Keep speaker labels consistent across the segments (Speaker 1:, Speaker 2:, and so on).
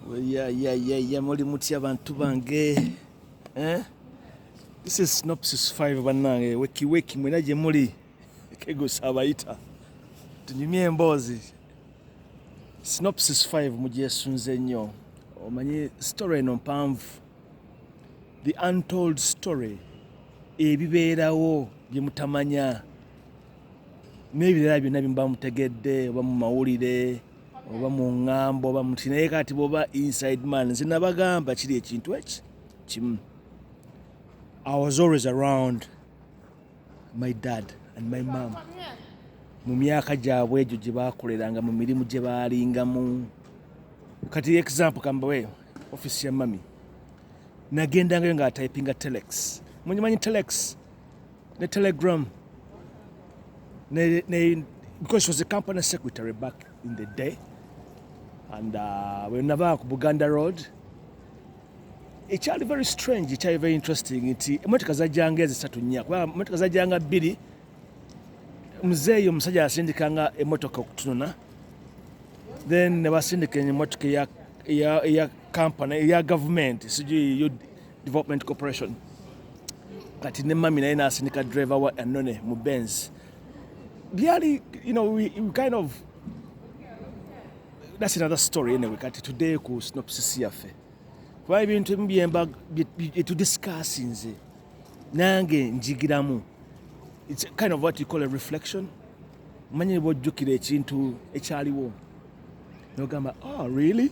Speaker 1: Yeah, yeah, yeah, yeah. Muli mutya bantu bange. Eh? This is Synopsis 5 banange. Weki weki mwena je muli. Kego sabaita. Tunyumye embozi. Synopsis 5 mugyesunze nnyo. Omanyi story eno mpanvu. The untold story. Ebibeerawo bye mutamanya. N'ebirala byonna bye muba mutegedde oba mu mawulire. oba mu ŋŋamba oba muti naye kati bwoba inside man nze nabagamba kiri ekintu eki kimu i was always around my dad and my mom mu myaka gyabwe egyo gye baakoleranga mu mirimu gye baalingamu kati example kambawe office ya mami nagendangayo nga typinga telex munyimanyi telex ne telegram ne, ne, because she was a company secretary back in the day and uh, wenava ku buganda road ekyali very strange ekyali very interesting nti emotoka zajjanga ezisatu nnya kuba emotoka zajjanga bbiri muzeeyi omusajja asindikanga emotoka okutunona then nebasindika emotoka eya company eya gavumenti sijui Development Corporation kati ne mami naye nasindika driver wa anone mu Benz byali you know we, we kind of that's another story anyway kati today ku synopsis yaffe kuba ebintu ebimu byemba byetudiscassi nze nange njigiramu its kind of what you call a reflection manyi bwojjukira ekintu ekyaliwo nogamba oh really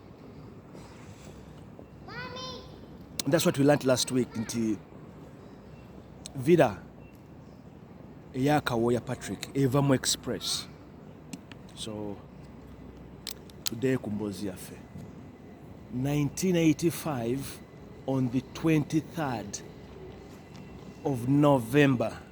Speaker 1: that's what we learnt last week nti villa eyakawoya patrick evamu express so today ku mboozi yaffe 1985 on the 23rd of november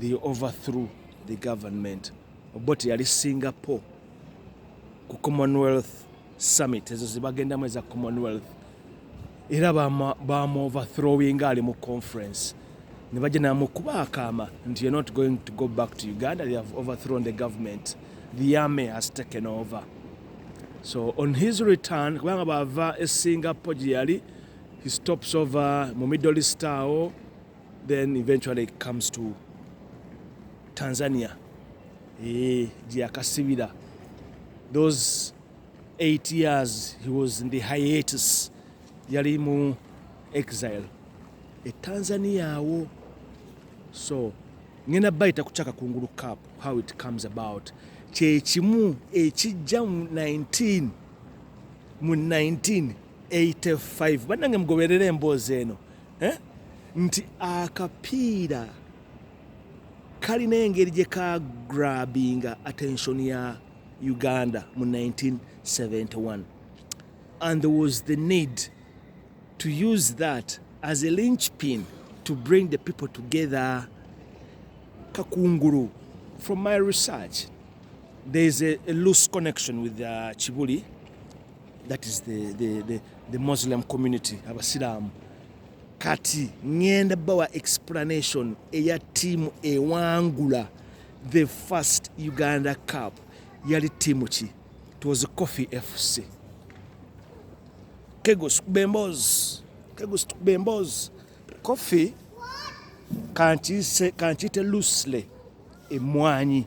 Speaker 1: they overthrew the government obote yali singapore ku commonwealth summit ezo zebagendamu eza commonwealth era bamuoverthrowinga ali mu conference ne bajja namukuba akaama nti you're not going to go back to uganda they have overthrown the government the army has taken over so on his return kubanga bava e singapore gye yali he stops over mu middle star then eventually it comes to tanzania eh, gyeyakasibira e, those eight years he was in the hiatus yali mu exile e tanzania awo so ngenda bayita kucaka kungulu cup how it comes about kyekimu ekijja mu 19 mu 1985 banange mugoberera emboozi eno eh? nti akapiira kalina engeri gye ka grabinga attention ya uganda mu 1971 and there was the need to use that as a lynch pin to bring the people together kakunguru from my research there is a, a loose connection with uh, chibuli That is the, the, the, the Muslim community abasiraamu kati ngenda bawa explanation eya tiimu ewangula the first uganda cup yali tiimu ki twas coffee fc kegos bembozi kegos bembozi coffee kankiite loosely emwanyi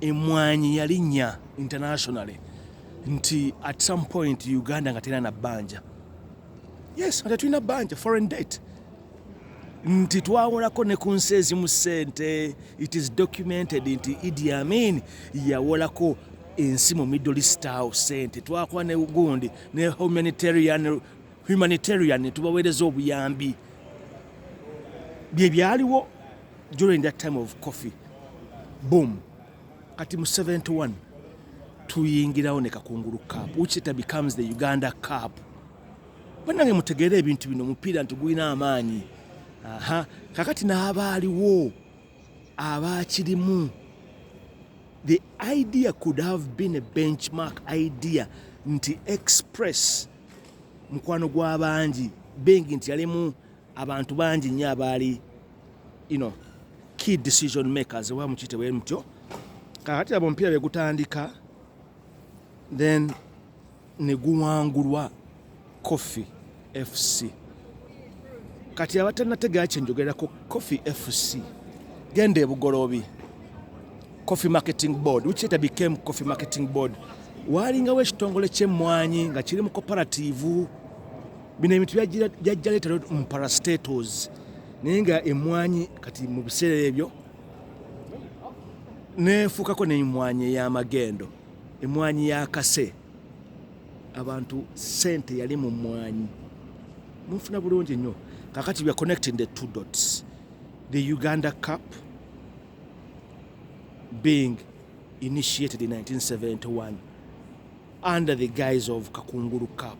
Speaker 1: Emmwanyi yalinnya internationally nti at some point Uganda nga terina na bbanja. Yes, nga tetulina bbanja, foreign debt. nti twawolako ne ku nsi ezimu ssente it is documented nti idi amin yawolako ensi mu middle east awo ssente twakuba ne gundi ne humanitarian humanitarian tubaweereza obuyambi bye byaliwo during that time of coffee boom kati mu 71 tuyingirawo ne kakungulu cup which later becomes the uganda cup banange mutegeere ebintu bino omupiira nti gulina amaanyi aha kakati n'abaaliwo abaakirimu the idea could have been a benchmark idea nti express mukwano gw'abangi bengi nti yalimu abantu bangi nnyo abaali you know, key decision makers oba mukiyite bwe mutyo kakati abo omupiira bye gutandika then ne guwangulwa coffee fc kati abatanategera kyenjogerako coffee fc genda ebugoloobi coffee marketing board which later became coffee marketing board waalingawo ekitongole ky'emmwanyi nga kiri mu cooperative Bino ebintu byajja leeta mu parastatos naye nga emwanyi kati mu biseera ebyo nefuukako nemwanyi ey'amagendo emwanyi ya kase abantu sente yali mu mwanyi munfuna bulungi nnyo kakati weare connecting the two dots the uganda cup being initiated in 1971 under the guise of Kakunguru Cup,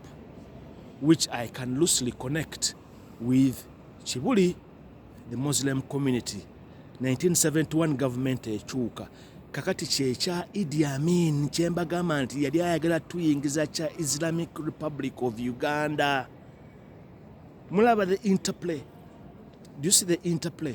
Speaker 1: which I can loosely connect with Chibuli, the Muslim community, 1971 government ekyuka kakati kyekya idi amin kyembagamba nti yali ayagala tuyingiza kya islamic republic of uganda mulaba the interplay do you see the interplay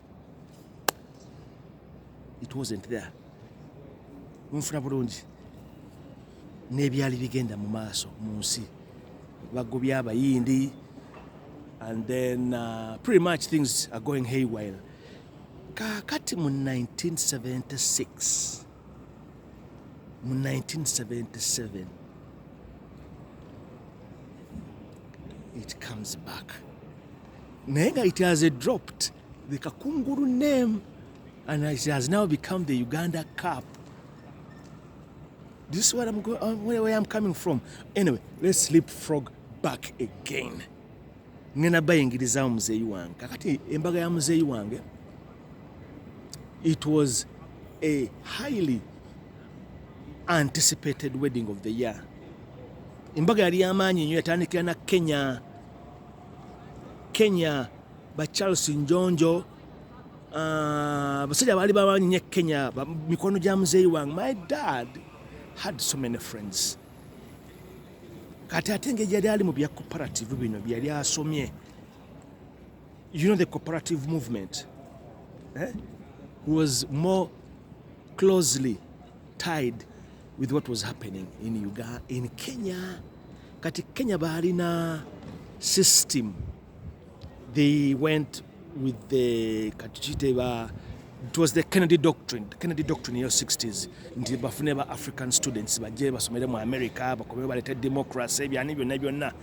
Speaker 1: it wasn't there munfuna bulungi n'ebyali bigenda mu maaso mu nsi bagobya abayindi and then uh, pretty much things are going haywire kakati mu 1976 mu 1977 it comes back naye nga it has a dropped the kakunguru name and it has now become the uganda cup do you see what I'm going, uh, where, where I'm coming from anyway let's sleep frog back again ngenda bayingirizamu muzeeyi wange kakati embaga ya muzeeyi wange it was a highly anticipated wedding of the year embaga yali yamaanyi nnyo yatandikira na kenya kenya ba charles njonjo ah, abasajja uh, baali bamanyi nyo kenya mikono gya muzeeyi wange my dad had so many friends kati ate ngeri yali ali mu bya cooperative bino byeyali asomye you know the cooperative movement eh? was more closely tied with what was happening in Uganda, in Kenya. Kati Kenya balina system. They went with the katuchite ba it was the Kennedy doctrine, the Kennedy doctrine in the 60s nti bafune ba African students baje basomere mu America bakobe balete democracy byani byonna byonna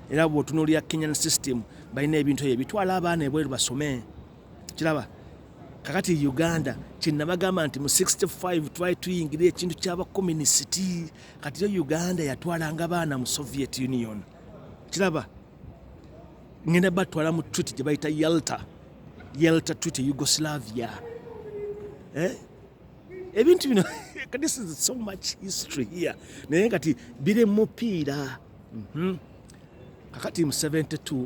Speaker 1: era bwotunuulira Kenyan system balina ebintu ebyo bitwala abaana ebweru basome kiraba kakati uganda kyenabagamba nti mu 65 twali tuyingira ekintu kyabakomunisiti kati yo uganda yatwalanga baana mu soviet union kiraba ngenda batwala mu twiti gye bayita yalta yalta twiti yugoslavia eh? ebintu bino this is so much history here naye kati biri mupiira mhm. kakati mu 72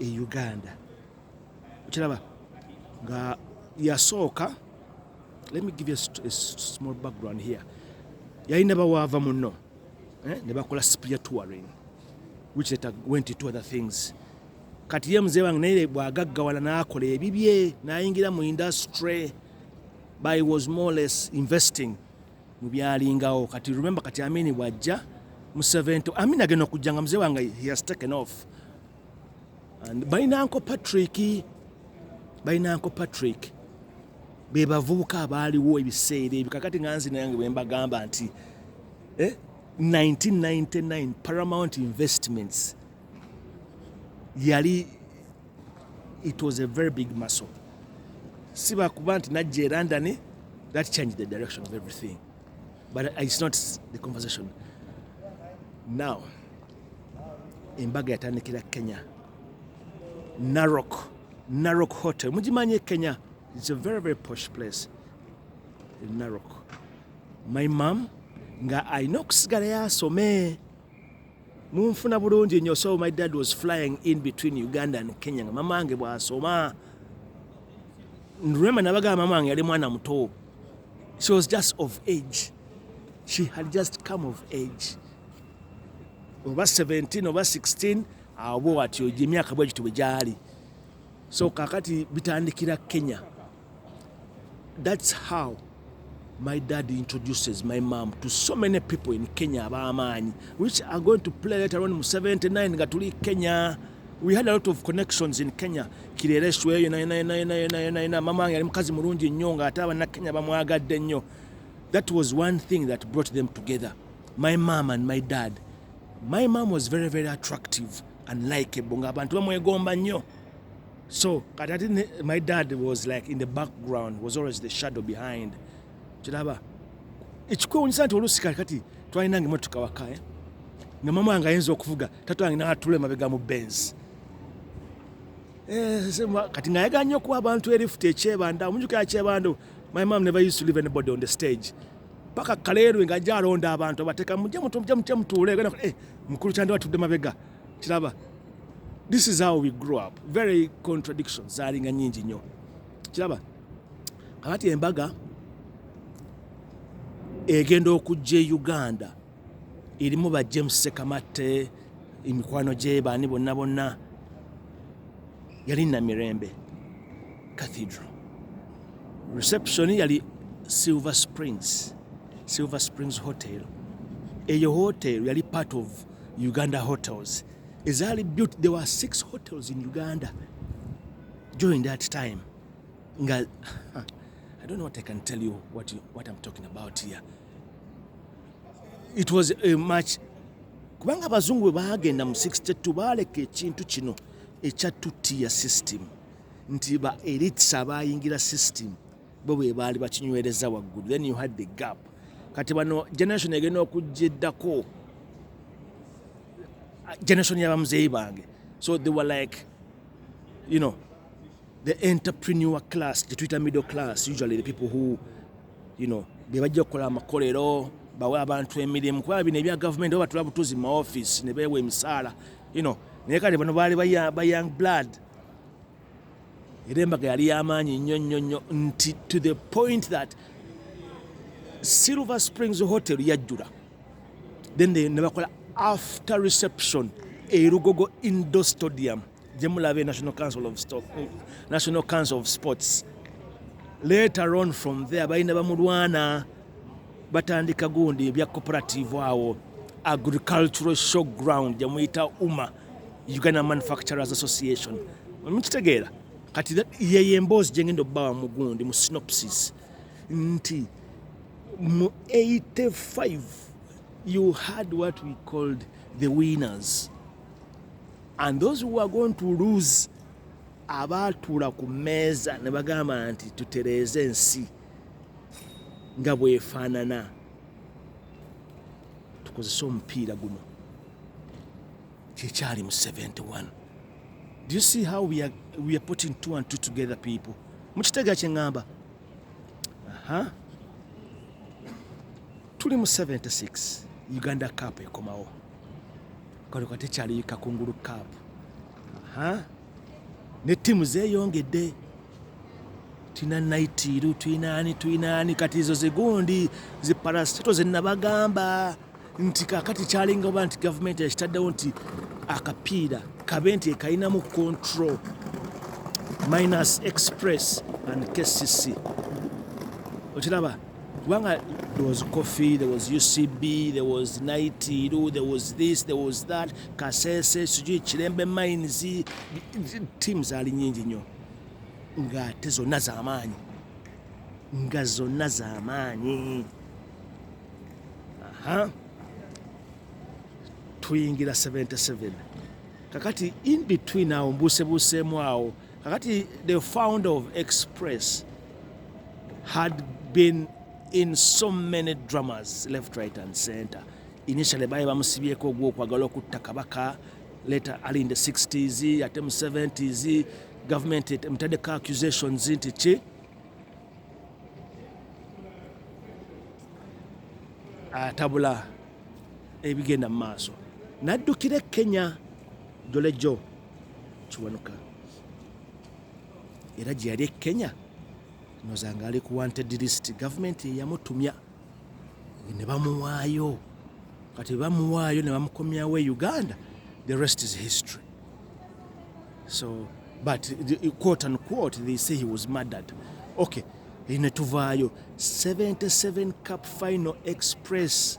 Speaker 1: e uganda okiraba nga yasooka let me give you a small background here yalina bawaava muno eh, ne bakola spirit touring which later went into other things kati ye mzee wange naye bwagaggawala n'akola ebibye n'ayingira mu industry by was more less investing mu byalingawo kati remember kati amini bwajja museven to amini agenda okujja nga mzee wange he has taken off and balinanko patrick balinanko patrick be bavubuka abaaliwo ebiseera ebyo kakati nga nzina yange bwe mbagamba nti eh, 1999 paramount investments yali It was a very big muscle. Siba kuba nti najja e London, that changed the direction of everything. But it's not the conversation. Now, embaga yatandikira Kenya. Narok, Narok Hotel. Mujimanye Kenya. It's a very, very posh place in Narok. My mom, nga alina okusigala yasome munfuna bulungi nyo so my dad was flying in between uganda and kenya nga mama wange bwasoma nrema nabaga mama wange yali mwana muto she was just of age she had just come of age oba 17 oba 16 awo bwewatyo gyemyaka bwegityo bwe gyali so kakati bitandikira kenya That's how my dad introduces my mom to so many people in Kenya ab'amaanyi which are going to play later on mu 79 nga tuli Kenya we had a lot of connections in Kenya kirereswa eyo nayenayonayonayonayona mama wange yali mukazi mulungi nnyo ng'ate abannakenya bamwagadde nnyo that was one thing that brought them together my mom and my dad my mom was very very attractive and likeable ng'abantu bamwegomba nnyo so kati ati my dad was like in the background was always the shadow behind kiraba ekikwewunyisa nti oluusi kati kati twalina nga emotoka waka eh? nga mama wange ayinza okuvuga tata wange natula emabega mu benz eh, kati ngayagala nnyo okuwa abantu erifuti ekyebanda omunjukira kyebanda my mom never used to leave anybody on the stage paka kaleerwe nga ajja alonda abantu abateka mujja mutuule gana eh, mukulu kyandi watudde mabega kiraba this is how we grew up very contradiction zalinga nyingi nnyo kiraba kakati embaga egenda okujja e uganda erimu ba james sekamatte emikwano gye baani bonna bonna yali namirembe cathedral reception yali silver springs silver springs hotel eyo hotel yali part of uganda hotels ezaali built there were six hotels in uganda during that time nga i don't know what i can tell you what, you, what i'm talking about here it was a much kubanga abazungu bwe baagenda mu 62 baaleka ekintu kino ekya tutiya system nti ba elites abayingira system bo bwe baali bakinywereza waggulu then you had the gap kati bano generation egenda okujja eddako generation yabamuzeeyi bange so they were like you know the entrepreneur class the twitter middle class usually the people who you know be bajja okukola amakolero bawe abantu emirimu kuba bino ebya gavumenti oba batula butuzi mu maofisi ne beewa emisaala you know naye kale bano baali ba young blood era embaga yali yamaanyi nnyo nnyo nnyo nti to the point that silver springs hotel yajjula then nebakola after reception erugogo indo stadium gyemulaba e national council of, Stock, national council of sports later on from there balina bamulwana batandika gundi ebya cooperative awo agricultural show ground gyemuyita uma uganda manufacturers association mukitegeera kati yeyo emboozi gyengenda okubawa mu gundi mu synopsis nti mu 85 you had what we called the winners and those who are going to lose abaatuula ku mmeeza ne bagamba nti tutereeze ensi nga bwefaanana tukozese omupiira guno kyekyali mu 71 do you see how we are, we are putting two and two together people mukitega kyeŋŋamba aha tuli mu 76 uganda cup ekomawo kale katekyali kakungulu cup aha ne ttiimu zeeyongedde tulina naitiru tulina ani tulina ani kati ezo zigundi ziparasito zenabagamba nti kakati kyalinga oba nti gavumenti yakitaddewo nti akapiira kabe nti ekalinamu control minus express and kcc okiraba kubanga there was coffee there was ucb there was naitiru there was this there was that kasese sijui kirembe mines tiamu zaali nyingi nnyo ngaate zonna zamaanyi nga zonna zamaanyi aha tuyingira 77 kakati in between awo mbuusebuuseemu awo kakati the founder of express had been in so many dramas left right and center initially baye bamusibyeko ogwokwagala okutta kabaka later ali in the 60s ate mu 70s government emutadeko accusations nti ki atabula ebigenda mu maaso naddukira e kenya jolejo kiwanuka era gye yali e kenya noza nga ali ku wanted list gavumenti eyamutumya ne bamuwaayo kati bamuwaayo ne bamukomyawo e uganda the rest is history so but the, quote and quote they say he was murdered okay netuvaayo 77 cup final express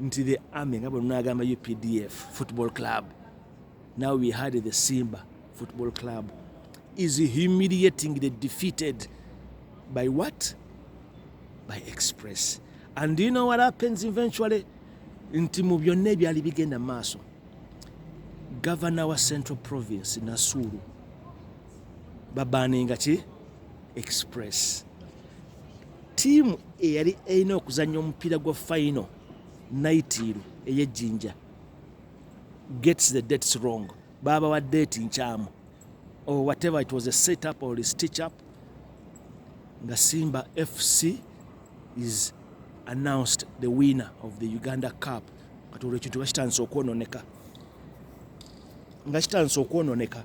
Speaker 1: nti the army nga bwenagamba updf football club now we had the simba football club is humiliating the defeated by what by express and you know what happens eventually nti mu byonna ebyali bigenda maaso gavana wa central province nasuulu babaninga ki express tiimu eyali erina okuzannya omupiira gwa final naitiiru eyejjinja gets the dates wrong baabawa deeti nkyamu or oh, whatever it was a set up or a stitch up nga simba fc is announced the winner of the uganda cup kati olwo ekintu nga kitandise okwononeka nga kitandise okwononeka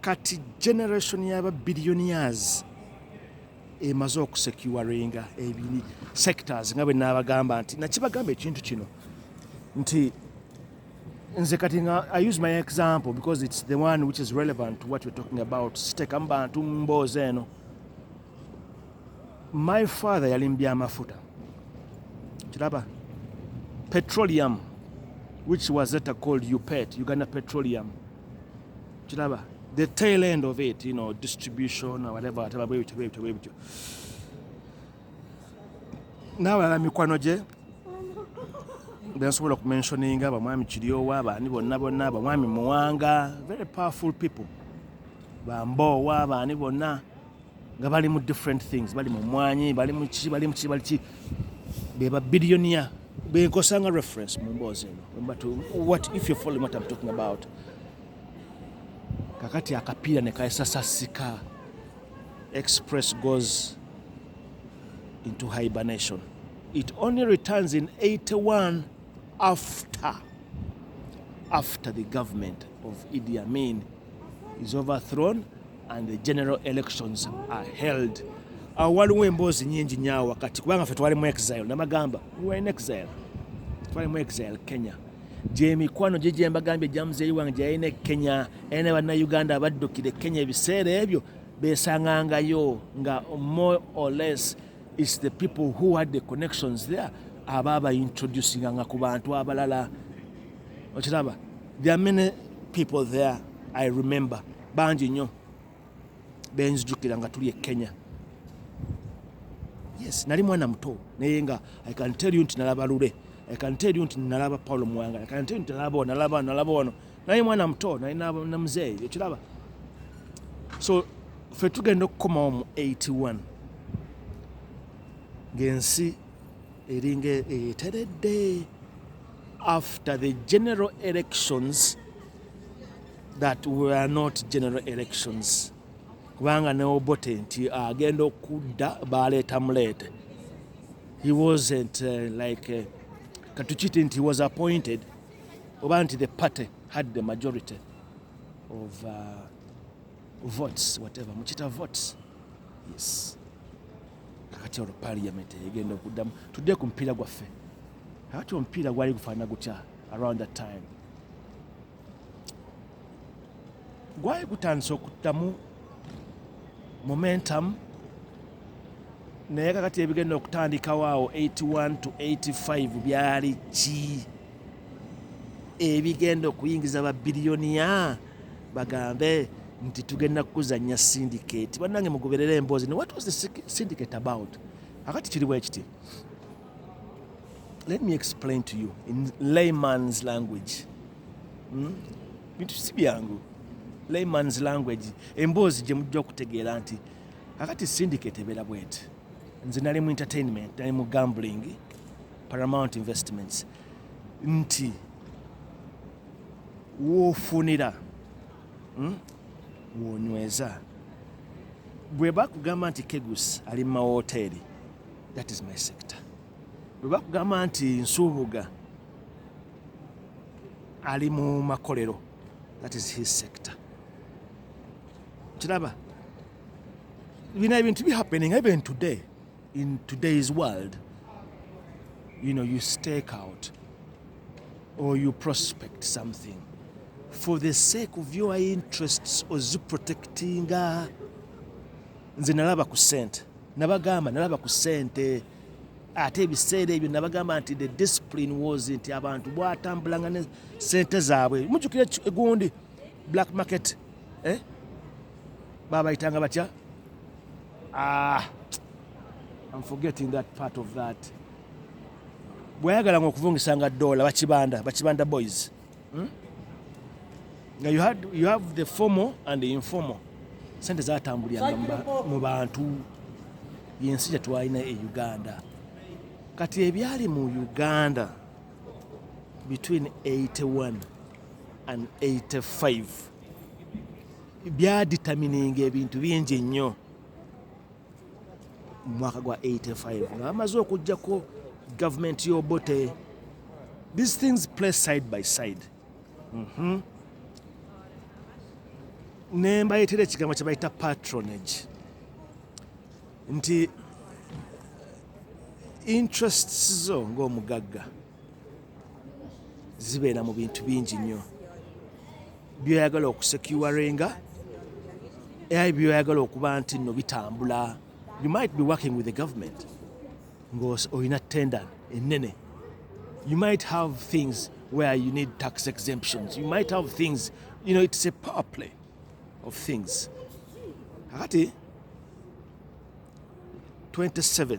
Speaker 1: kati generation yaba billionaires emaze okusecuringa ebini sectors nga bwenabagamba nti nakibagamba ekintu kino nti nze kati nga i use my example because it's the one which is relevant to what you're talking about sitekamu bantu mboozi eno my father yali mubyamafuta kiraba petroleum which was etta called upet uganda petroleum kiraba the tail end of it you know distribution or whatever whatever bwe bityo bwe bityo bwe bityo n'abalala mikwano gye bensobola okumensioninga abamwami kiryowa abaani bonna bonna abamwami muwanga very powerful people bamboowa abaani bonna nga bali mu different things bali mu mwanyi bali mu kiki bali mu kiki bali ki be ba billionaire be nkosanga reference mu mboozi eno but what if you follow what I'm talking about kakati akapiira ne kaesasasika express goes into hibernation it only returns in 81 after after the government of Idi Amin is overthrown and the general elections are held awo waliwo emboozi nyingi nyawo wakati kubanga fe twali mu exile namagamba we were in exile twali mu exile kenya gyemikwano gye gyembagambye gya muzeeyi wange gyeyalina e kenya era ne bannayuganda abaddukire kenya ebiseera ebyo besangangayo nga more or less is the people who had the connections there aba abaintroducinga nga ku bantu abalala okiraba there are many people there i remember bangi nnyo benzijukira nga tuli e kenya yes nali mwana muto naye nga i can tell you nti nalaba lule i can tell you nti nalaba paulo muwanga i can tell you nti nalaba ono nalaba ono nalaba ono naye mwana muto naye na muzeeyi ekiraba so fe tugenda okukomawo mu 81 ng'ensi eringa eteredde after the general elections that we are not general elections kubanga ne obote nti agenda okudda baleeta muleete he wasn't uh, like uh, katukiti nti was appointed oba nti the party had the majority of uh, votes whatever mukita votes yes kakati olwo parliament egenda okuddamu tudde ku mupiira gwaffe kakati omupiira gwali gufaanana gutya around that time gwali gutandise okuddamu momentum naye kakati ebigenda okutandikawo awo 81 to 85 byali ki ebigenda okuyingiza babiliyoniya bagambe nti tugenda kuzanya syndicate banange mugoberera emboozi ne what was the syndicate about akati kiri bwekiti Let me explain to you in layman's language. Hmm? Bintu si byangu. Layman's language. Emboozi gye mujja okutegeera nti kakati syndicate ebeera bweti. Nze nali mu entertainment, nali mu gambling, Paramount Investments. Nti woofunira hmm? woonyweza bwe bakugamba nti kegus ali mu mawooteeri that is my sector lwebakugamba nti nsuubuga ali mu makolero that is his sector kiraba bino ebintu bihappening even today in today's world you know you stake out or you prospect something for the sake of your interests oziprotectinga nze nalaba ku sente nabagamba nalaba ku sente ate ebiseera ebyo nabagamba nti the discipline was nti abantu bwatambulanga ne sente zaabwe mujukira egundi black market eh? babayitanga batya ah, I'm forgetting that part of that bweyagalanga okuvungisanga dola bakibanda bakibanda boys hmm? nga you, had, you have the formal and the informal sente zatambuliranga mu bantu yensi gyetwalina e uganda kati ebyali mu uganda between 81 and 85 byaditamininga ebintu bingi nnyo mu mwaka gwa 85 nga bamaze okujjako gavumenti y'obote these things play side by side mm -hmm. ne mbayitira ekigambo kye bayita patronage nti interests zo ng'omugagga zibeera mu bintu bingi nnyo byoyagala okusekiwarenga ai byoyagala okuba nti no bitambula you might be working with the government ng'olina tenda ennene you might have things where you need tax exemptions you might have things you know it's a power play of things kakati 27th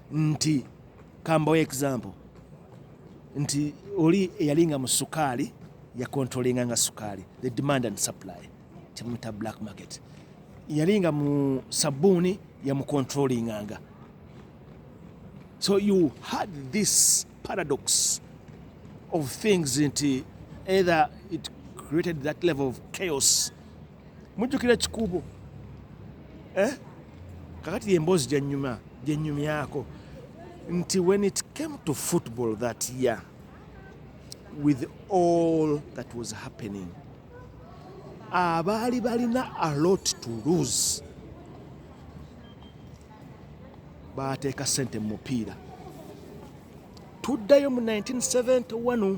Speaker 1: nti kambawo example nti oli eyali nga mu sukaali yakontrolinga nga sukaali the demand and supply kyemuta black market yali nga mu sabuuni yamukontrolinganga so you had this paradox of things nti either it created that level of chaos mujjukira ekikuubo eh? kakati yemboozi gyenyuma gyenyumyako nti when it came to football that year with all that was happening abaali balina a lot to lose baateeka sente mu mupiira tuddayo mu 1971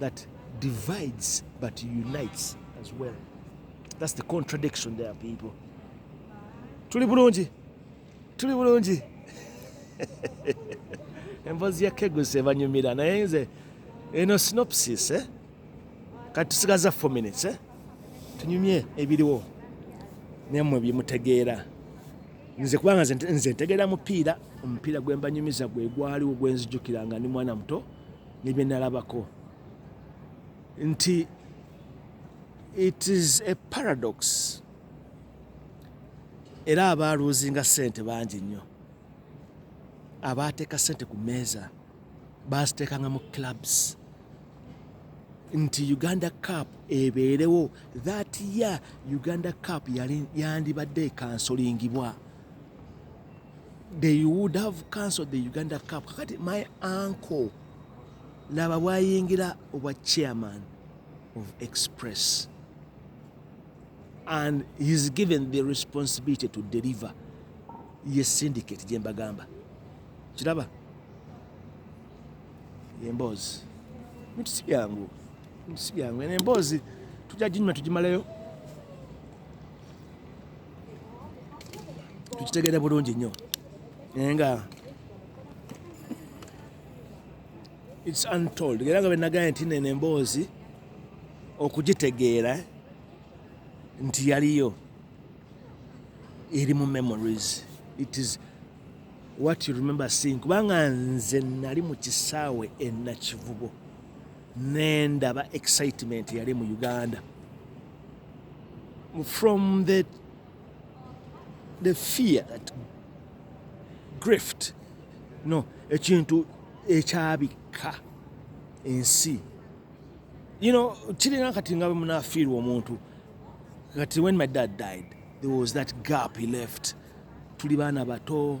Speaker 1: that divides but unites as well that's the contradiction there people tuli bulungi tuli bulungi embozi ya keguse banyumira naye nze eno synopsis eh? kati tusigaza four minutes eh? tunyumye ebiriwo nemwe byemutegeera nze kubanga nze ntegeera mupiira omupiira gwembanyumiza gwegwaliwo gwenzijukira nga ndi mwana muto ne bye nalabako nti it is a paradox era abaaluuzinga sente bangi nnyo abaateeka sente ku meeza baaziteekanga mu clubs nti uganda cup ebeerewo that year uganda cup yandibadde ekansolingibwa they would have cancelled the Uganda Cup. Kakati my uncle laba bwayingira obwa chairman of Express and he's given the responsibility to deliver ye syndicate gye mbagamba kiraba yemboozi bintu si byangu bintu si byangu eno emboozi tujja ginyuma tugimaleyo tukitegere bulungi nnyo naye nga its untold era nga benagaye nti nene emboozi okugitegeera nti yaliyo eri mu memories it is what you remember seeing kubanga nze nali mu kisaawe enakivubo nendaba excitement yali mu uganda from the, the fear that grift no ekintu ekyabikka ensi you know kirina kati nga bwemunafiirwa omuntu kati when my dad died there was that gap he left tuli baana bato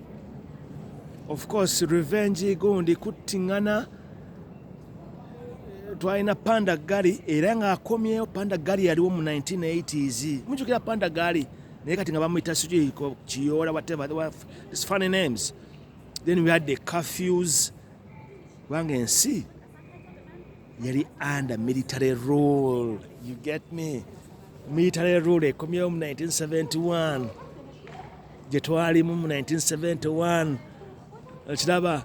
Speaker 1: of course revenge gundi kuttingana twalina panda gali era ngaakomyewo panda gali yaliwo mu 1980s mujukira panda gali naye kati nga bamuyita sikiiko kiyoola whatever this funny names then we had the curfews kubanga ensi yali under military rule you get me military rule ekomyewo mu 1971 gye twalimu mu 1971 okiraba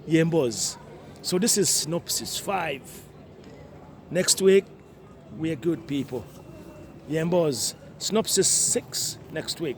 Speaker 1: yemboozi so this is synopsis 5 next week we are good people yemboozi synopsis 6 next week